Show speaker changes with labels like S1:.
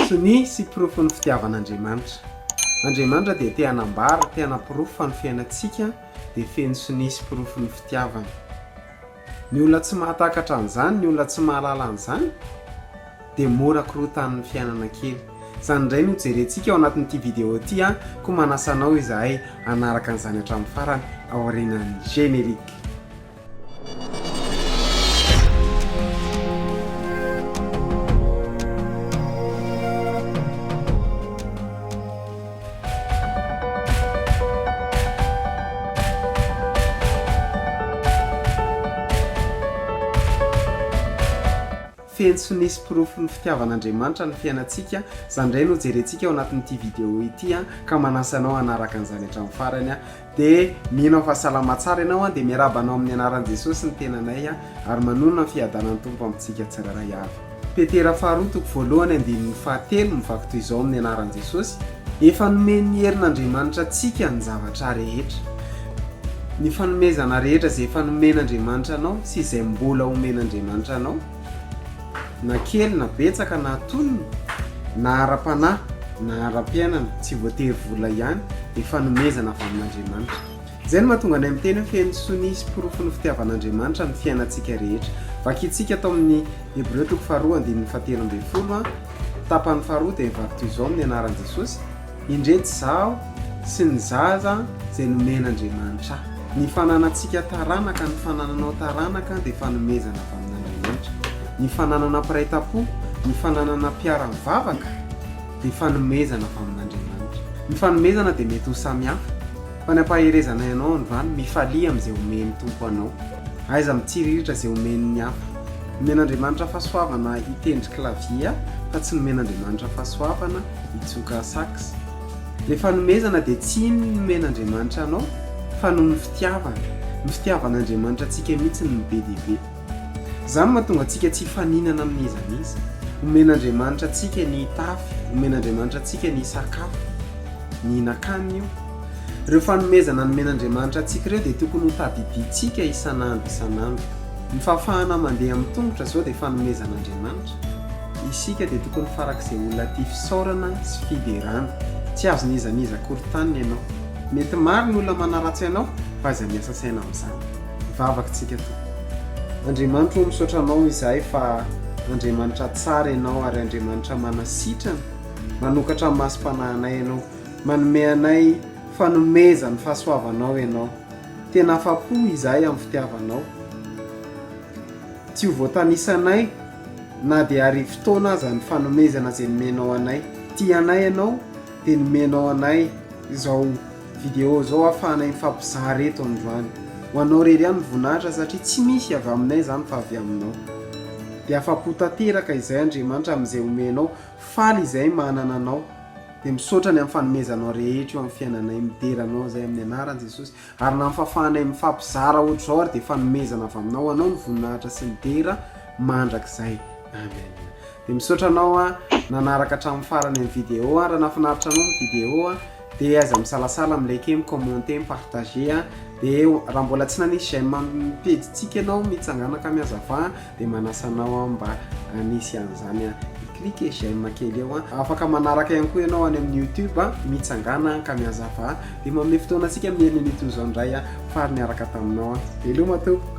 S1: Sonia sy porofon'ny fitiavan'Andriamanitra. Andriamanitra dia te hanambara, te hanaporofo fa ny fiainantsika dia feno sonia sy porofon'ny fitiavany. Ny olona tsy mahatakatra an'izany, ny olona tsy mahalala an'izany dia mora korotan'ny fiainana kely. Izany indray no hojerentsika ao anatin'ity vidéo ity an, koa manasa anao izahay hanaraka an'izany hatramin'ny farany aorianan'ny générique. Feno sy nisy porofon'ny fitiavan'Andriamanitra ny fiainantsika, izany indray no jerentsika ao anatin'ity video ity ka manasa anao hanaraka an'izany hatramin'ny farany aho. Dia mino fa salama tsara ianao an, dia miarahaba anao amin'ny anaran'i Jesosy ny tenanay an, ary manonona ny fiadanan'ny Tompo amintsika tsirairay avy. Petera faharoa toko voalohany andininy fahatelo mivaky toy izao amin'ny anaran'i Jesosy, Efa nomen'ny herin'Andriamanitra antsika ny zavatra rehetra. Ny fanomezana rehetra izay efa nomen'Andriamanitra anao sy izay mbola homen'Andriamanitra anao. na kely na betsaka na tonony na ara-panahy na ara-piainana tsy voatery vola ihany dia fanomezana avy amin'Andriamanitra. Izay no mahatonga anay miteny hoe feno sonia sy porofon'ny fitiavan'Andriamanitra ny fiainantsika rehetra. Vakintsika tao amin'ny Hebreo toko faharoa andininy fahatelo ambin'ny folo, tapany faharoa dia vaky toy izao amin'ny anaran'i Jesosy. Indreto izaho sy ny zaza izay nomen'Andriamanitra ahy. Ny fananantsika taranaka, ny fanananao taranaka dia fanomezana avy amin'Andriamanitra. Ny fananana mpiray tam-po, ny fananana mpiara-mivavaka dia fanomezana avy amin'Andriamanitra. Ny fanomezana dia mety ho samihafa, fa ny hampaherezana ianao any van, mifalia amin'izay omen'ny Tompo anao. Aiza mitsiriritra izay omen'ny hafa. Nomen'Andriamanitra fahasoavana hitendry clavier aho, fa tsy nomen'Andriamanitra fahasoavana Hitsoka sax. Le fanomezana dia tsy iny nomen'Andriamanitra anao fa noho ny fitiavana. Ny fitiavan'Andriamanitra antsika mihitsy no be dia be. Izany no mahatonga antsika tsy hifaninana amin'iza n'iza. Omen'Andriamanitra antsika ny hitafy, omen'Andriamanitra antsika ny hisakafo, ny hihinan-kanina io. Ireo fanomezana nomen'Andriamanitra antsika ireo dia tokony ho tadidintsika isan'andro isan'andro. Ny fahafahana mandeha amin'ny tongotra izao dia fanomezan'Andriamanitra. Isika dia tokony farak'izay olona tia fisaorana sy fiderana. Tsy azon' iza n'iza akory taniny ianao. Mety maro ny olona manaratsy anao fa aiza miasa saina amin'izany. Vavaka tsika tompoko. Andriamanitra o misaotra anao izahay fa Andriamanitra tsara ianao ary Andriamanitra manasitrana, manokatra ny masom-panahinay ianao. Manome anay fanomezan' ny fahasoavanao ianao. Tena afa-po izahay amin'ny fitiavanao. Tsy ho voatanisanay na dia arivo taona aza ny fanomezana izay nomenao anay. Tia anay ianao dia nomenao anay izao video izao ahafahanay mifampizara eto androany. Ho anao irery ihany ny voninahitra satria tsy misy avy aminay izany fa avy aminao. Dia afa-po tanteraka izay Andriamanitra amin'izay omenao. Faly izahay manana anao. Dia misaotra ny amin'ny fanomezanao rehetra eo amin'ny fiainanay. Midera anao izahay amin'ny anaran'i Jesosy. Ary na mifahafahanay mifampizara ohatr'izao ary dia fanomezana avy aminao ho anao ny voninahitra sy ny dera mandrakizay. Amen. Dia misaotra anao a, nanaraka hatramin'ny farany ny vidéo a, raha nahafinaritra anao ny vidéo a, dia aza misalasala mi-liker, mi-commenter, mi-partager a, dia raha mbola tsy nanisy j'aime amin'ny pejintsika ianao, mitsangana ka mihazavà. dia manasa anao aho mba hanisy an'izany an. Cliquer j'aime kely eo an. Afaka manaraka ihany koa ianao any amin'ny YouTube an, Mitsangana an, ka mihazavà dia manome fotoana antsika amin'ny herin'iny toy izao indray an, faly niaraka taminao an. Veloma tompoko.